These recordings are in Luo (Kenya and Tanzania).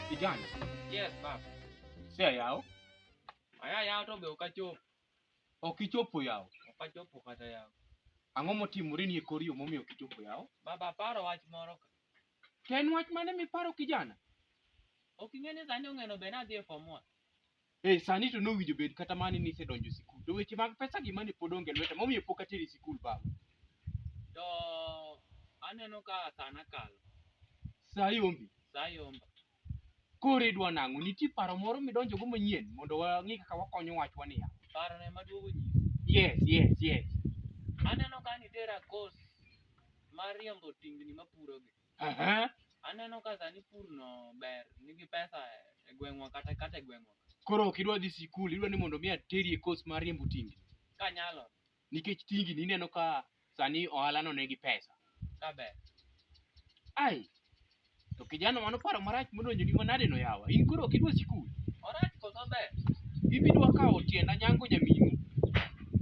Kijana, Yes, baba. sia yao Aya yao to be okachopo. ok ichopo yao. Okachopo kata yao. Ang'o motimore ni e kor yo momiyo ok ichopo yao? Baba paro wach moro ka. To en wach mane miparo kijana? Ok ing'e ni sani ong'eno be nadhi e form one. Hey, sani to nowinjo bed kata mani ni isedonjo sikul. To weche mag pesa gi mani pod onge lweta. Momiyo pok ateri sikul baba. To aneno ka sana kalo. Saa yombi. Saa yomba. Koro idwa nang'o? Nitie paro moro midonjo go manyien mondo wang'i kaka wakonyo wachwa niya. Paro ne maduogo nyisi. Yes, yes, yes. Aneno ka nitera course mar riembo tingni mapuro gi. Aha. Aneno ka sani pur no ber, nigi pesa e gweng'wa kata kata e gweng'wa. Koro ok idwa dhi sikul, idwa ni mondo mi ateri e course mar riembo tingi. Ka nyalo, Nikech tingi ni ineno ka sani ohala no nigi pesa. ka ber. Ai. To kijana mano paro marach modonjo ni manade no yawa. In koro ok idwa sikul. Orach koso ber. Ibidwa kawo tienda nyango nyaminu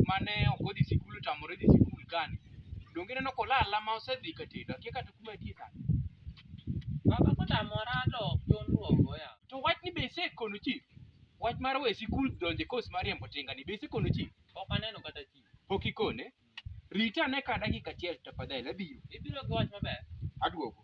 mane ok odhi sikul otamore dhi sikul kani. Donge ineno kolala ma osedhi ka tedo? Akia kata kuma entie sani. Baba kotamora to John luongo ya. To wach ni be isekono chief? Wach mar we sikul donje kos mar riembo tinga ni be isekono chief? Ok aneno kata chi. Pok ikone? Rita ane ka dakika achiel tafadhali abiro. Ibiro gi wach maber. Aduogo.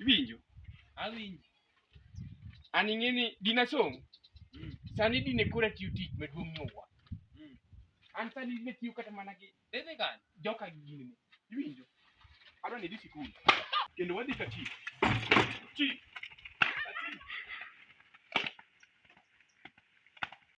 Iwinjo? Awinji. An ing'e ni dine asom, Mm. sani dine koro atiyo tich maduong' nyowuoyo. Mm. An sani dine atiyo kata mana gi Dine kanye? joka gi gini. Iwinjo? Adwa ni idhi sikul. Kendo wadhi ka chief. Chief.